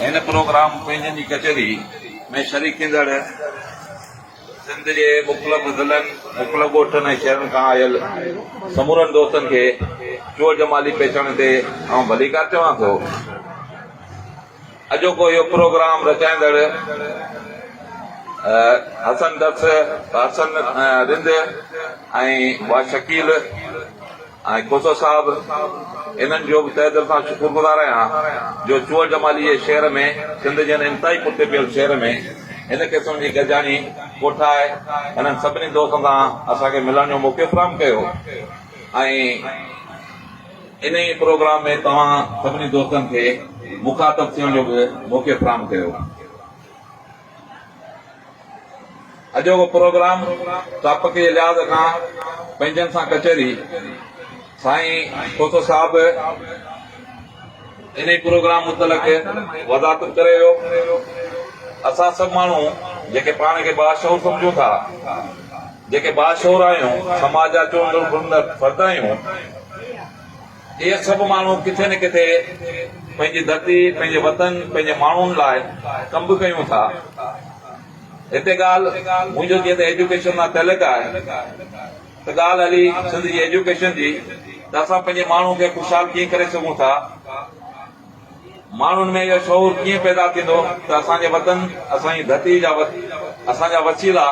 هن پروگرام پنهنجن جي ڪچهري ۾ شريڪ ٿيندڙ سنڌ جي مختلف ضلعن، مختلف ڳوٺن ۽ شهرن کان آيل سمورن دوستن کي چور جمالي پيچڻ تي آئون ڀليڪار چوان ٿو. اڄوڪو اهو پروگرام رچائيندڙ حسن درس، حسن رند ۽ ڀاء شڪيل، آء کوسو صاحب انهن جو به تهه دل سان شڪر گذار آهيان جو چوهل جمالي جي شعر ۾ سنڌ جهن انتهائي پٺتي پيل شهر ۾ هن قسم جي گڏجاڻي ڪوٺائي انهن سڀني دوستن سان اسان کي ملڻ جو موقعو فراهم ڪيو ۽ انهي پروگرام ۾ توهان سڀني دوستن کي مخاطب ٿيڻ جو به موقعو فراهم ڪيو. اڄوڪو پروگرام ٽاپڪ جي لحاظ کان پنهنجن سان ڪچهري سائين کوسو صاحب انهي پروگرام متعلق وضاحت ڪري ويو اسان سڀ ماڻهو جيڪي پاڻ کي باشعور سمجهون ٿا جيڪي باشعور آهيون سماج جا چونڊندڙ فرد آهيون اهي سڀ ماڻهو ڪٿي نه ڪٿي پنهنجي ڌرتي، پنهنجي وطن، پنهنجي ماڻهن لاء ڪم به ڪيون ٿا. هتي ڳالهه منهنجو جيئن ته ايجوڪيشن سان تعلق آهي ته ڳالهه هلي سنڌ جي ايجوڪيشن جي ته اسان پنهنجي ماڻهن کي خوشحال ڪيئن ڪري سگهون ٿا. ماڻهن ۾ اهو شعور ڪيئن پيدا ٿيندو ته اسان جي وطن، اسان جي ڌرتي جا وت، اسان جا وسيلا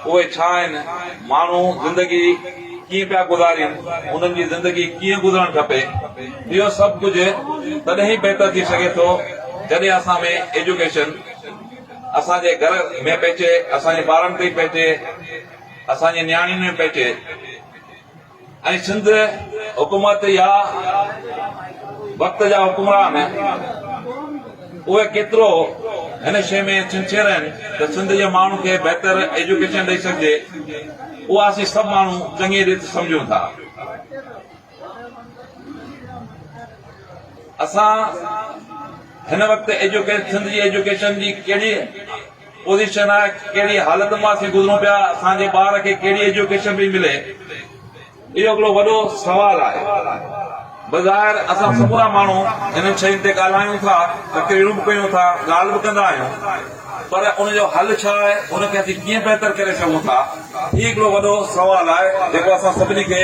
اهي ڇا آهن، ماڻهو زندگي ڪيئن پيا گذارين، انهن جي زندگي ڪيئن گذرڻ کپي، اهو سڀ ڪجهه تڏهن ئي بهتر ٿي سگهي ٿو جڏهن اسان ۾ ايجوڪيشن اسان جي گهر ۾ پهچي، اسان جي ٻارن تائين پهچي، اسان جي نياڻين ۾ پهچي. ۽ سنڌ حڪومت يا وقت جا حڪمران اهي ڪيترو هن شيء ۾ سنسيئر آهن ته سنڌ جي ماڻهن کي بهتر ايجوڪيشن ڏئي سگهجي اها اسين سڀ ماڻهو چڱي ريت سمجهون ٿا اسان هن وقت ايجوڪيشن سنڌ جي ايجوڪيشن جي ڪهڙي پوزيشن آهي ڪهڙي حالت مان اسين گذرون پيا اسان جي ٻار کي ڪهڙي ايجوڪيشن پئي ملي اهو هڪڙو وڏو سوال آهي بظاهر اسان سمورا ماڻهو انهن شين تي ڳالهايون ٿا تقريرون به ڪيون ٿا ڳالهه به ڪندا آهيون پر ان جو حل ڇا آهي ان کي اسين ڪيئن بهتر ڪري سگهون ٿا هي هڪڙو وڏو سوال آهي جيڪو اسان سڀني کي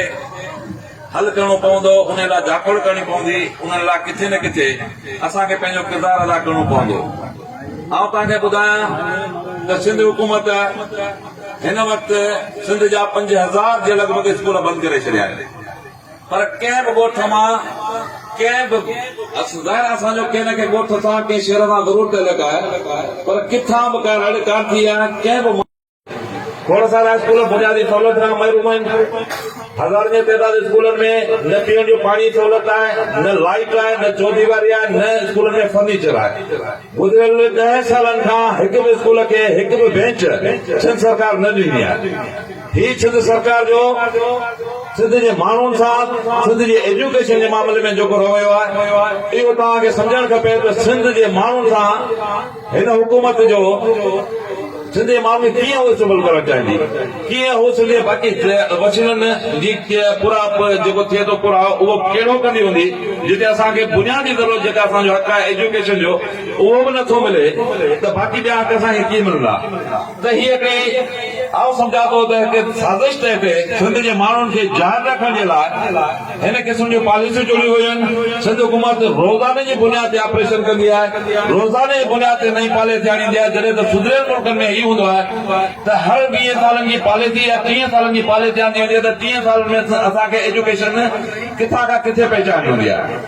حل ڪرڻو پوندو، انهيء لاء جاکوڙ ڪرڻي پوندي، انهن لاء ڪٿي نه ڪٿي اسان کي پنهنجو ڪردار ادا ڪرڻو پوندو. آئون توهان کي ٻڌايان ته سنڌ حڪومت هن وقت سنڌ جا پنج هزار جي لڳ ڀڳ اسڪول بند ڪري ڇڏيا آهن پر ڪنهن به ڳوٺ مان ڪنهن به ظاهر اسان جو ڪنهن نه ڪنهن ڳوٺ سان ڪنهن شهر سان ضرور تعلق آهي پر ڪٿان به ڪا رڙ ڪانه ٿي آهي ڪنهن به کوڙ سارا اسڪول بنيادي سهولت کان محروم آهن هزارن جي تعداد اسڪولن ۾ نه پيئڻ جو پاڻي جي سهولت آهي نه لائيٽ آهي نه چوديواري آهي نه اسڪولن ۾ فرنيچر آهي گذريل ڏهن سالن کان هڪ به اسڪول کي هڪ به بينچ سنڌ سرڪار نه ڏني آهي هي سنڌ سرڪار جو سنڌ جي ماڻهن سان سنڌ جي ايجوڪيشن جي معاملي ۾ جيڪو رويو آهي اهو توهان کي سمجهڻ کپي ته سنڌ جي ماڻهن سان هن حڪومت جو سنڌي ماڻهن کي ڪيئن هوس سنڀل ڪرڻ چاهيندي؟ ڪيئن هو سنڌي باقي وسيلن جي پورائپ جيڪو ٿئي ٿو پورائو اهو ڪهڙو ڪندي هوندي جتي اسان کي بنيادي ضرورت جيڪا اسان جو حق آهي ايجوڪيشن جو اهو به نٿو ملي ته باقي ٻيا حق اسان کي ڪيئن ملندا؟ تهيء ڪري آئون سمجهان ٿو ته هڪ سازش تحت سنڌ جي ماڻهن کي جان رکڻ جي لاء هن قسم جون پاليسيون چونيون ويون. سنڌ حڪومت روزاني جي بنياد تي آپريشن ڪندي آهي، روزاني جي بنياد تي نئين پاليسي آڻيندي آهي جڏهن ته سڌريل ملڪن ۾ هي هوندو آهي ته هر ويهن سالن جي پاليسي يا ٽيهن سالن جي پاليسي آندي ويندي آهي ته ٽيهن سالن ۾ اسان کي ايجوڪيشن ڪٿان کان ڪٿي پهچائڻي هوندي آهي.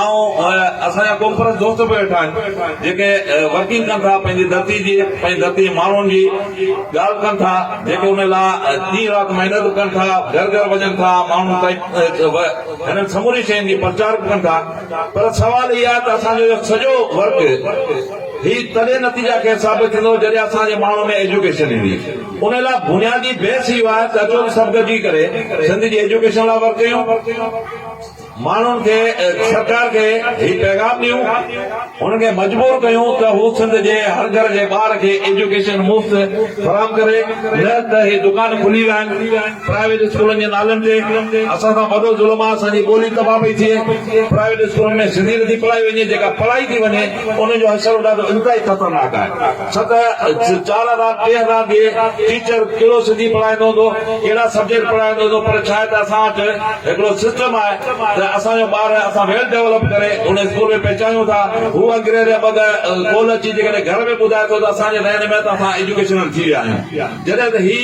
آئون ۽ اسان جا قوم پرست دوست به ويٺا آهن جيڪي ورڪنگ ڪن ٿا پنهنجي ڌرتي جي پنهنجي ڌرتي جي ماڻهن جي ڳالهه ڪن ٿا جيڪي ان لاء ڏينهن رات محنت ڪن ٿا گهر گهر وڃن ٿا ماڻهن تائين هنن سمورين شين جي پرچار به ڪن ٿا پر سوال هي آهي ته اسان جو اهو سڄو ورڪ هي تڏهن نتيجا کي ثابت ٿيندو جڏهن اسان جي ماڻهن ۾ ايجوڪيشن ايندي ان لاء بنيادي بيس اهو آهي ته اچو ته سڀ گڏجي ڪري سنڌ جي ايجوڪيشن لاء ورڪ ڪيون ماڻهن کي ۽ سرڪار کي هي پيغام ڏيون، انهن کي مجبور ڪيون ته هو سنڌ جي هر گهر جي ٻار کي ايجوڪيشن مفت فراهم ڪري نه ته هي دڪان کلي ويا آهن پرائيويٽ اسڪولن جي نالن تي اسان سان وڏو ظلم آهي اسان جي ٻولي تباهه پئي ٿئي پرائيويٽ اسڪولن ۾ سنڌي نٿي پڙهائي وڃي جيڪا پڙهائي ٿي وڃي انهن جو حشر ڏاڍو انتهائي خطرناڪ آهي ڇا ته چار هزار ٽي هزار جي ٽيچر ڪهڙو سنڌي پڙهائيندو هوندو ڪهڙا سبجيڪٽ پڙهائيندو هوندو پر ڇا آهي ته اسان وٽ هڪڙو سسٽم آهي ته اسان جو ٻار اسان ويل ڊيولپ ڪري ان اسڪول ۾ پهچايون ٿا هو انگريز يا ٻڌ ڪول اچي جيڪڏهن گهر ۾ ٻڌائي ٿو ته اسان جي ذهن ۾ ته اسان ايجوڪيشنل ٿي ويا آهيون جڏهن ته هي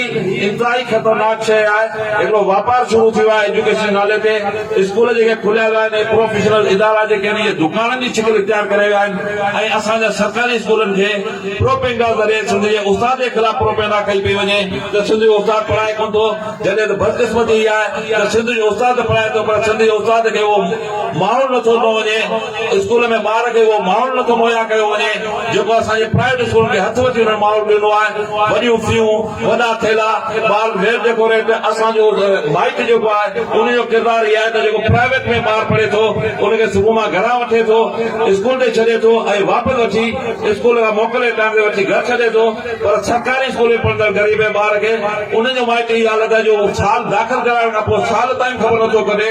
انتهائي خطرناڪ شيء آهي، هڪڙو واپار شروع ٿيو آهي ايجوڪيشن جي نالي تي، اسڪول جيڪي کليا ويا آهن، اهي پروفيشنل ادارا جيڪي آهن اهي دڪانن جي شڪل اختيار ڪري ويا آهن ۽ اسان جا سرڪاري اسڪولن کي پروپينڊا ذريعي سنڌ جي استاد جي خلاف پروپينڊا ڪئي پئي وڃي ته سنڌ جو استاد پڙهائي ڪونه ٿو، جڏهن ته بدقسمتي هي آهي ته سنڌ جو استاد ته پڙهائي ٿو پر سنڌ جي استاد کي اهو ماحول نٿو ڏنو وڃي. اسڪول ۾ ٻار کي اهو ماحول نٿو مهيا ڪيو وڃي جيڪو اسان جي پرائيويٽ اسڪولن کي هٿ وٺي انهن ماحول ڏنو آهي وڏيون فيون وڏا ٿيلها ٻار ويل ڊيڪوريٽ اسان جو مائٽ جيڪو آهي ان جو ڪردار اهي آهي ته جيڪو پرائيويٽ ۾ ٻار پڙهي ٿو ان کي صبح مان گهران وٺي ٿو اسڪول تي ڇڏي ٿو ۽ واپس وٺي اسڪول کان موڪلي ٽائيم تي وٺي گهر ڇڏي ٿو پر سرڪاري اسڪول ۾ پڙهندڙ غريب ۽ ٻار کي ان جو مائٽ اهي حالت آهي جو سال داخل ڪرائڻ کان پوء سال تائين خبر نٿو ڪڍي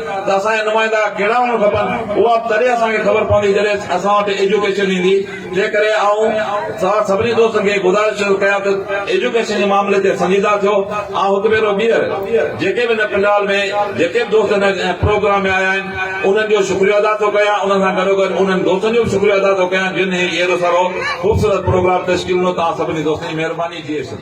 ته اسان جا نمائندا ڪهڙا هئڻ کپن، اها به تڏهن اسان کي خبر پوندي جڏهن اسان وٽ ايجوڪيشن ايندي، جنهن ڪري آئون توهان سڀني دوستن کي گذارش ٿو ڪيان ته ايجوڪيشن جي معاملي تي سنجيده ٿيو، آئون هڪ ڀيرو ٻيهر جيڪي به هن پنڊال ۾ جيڪي به دوست هن پروگرام ۾ آيا آهن انهن جو شڪريو ادا ٿو ڪيان، انهن سان گڏوگڏ انهن دوستن جو به شڪريو ادا ٿو ڪيان جن هي اهڙو سهڻو خوبصورت پروگرام تشڪيل ڏنو، توهان سڀني دوستن جي مهرباني جي ايشور.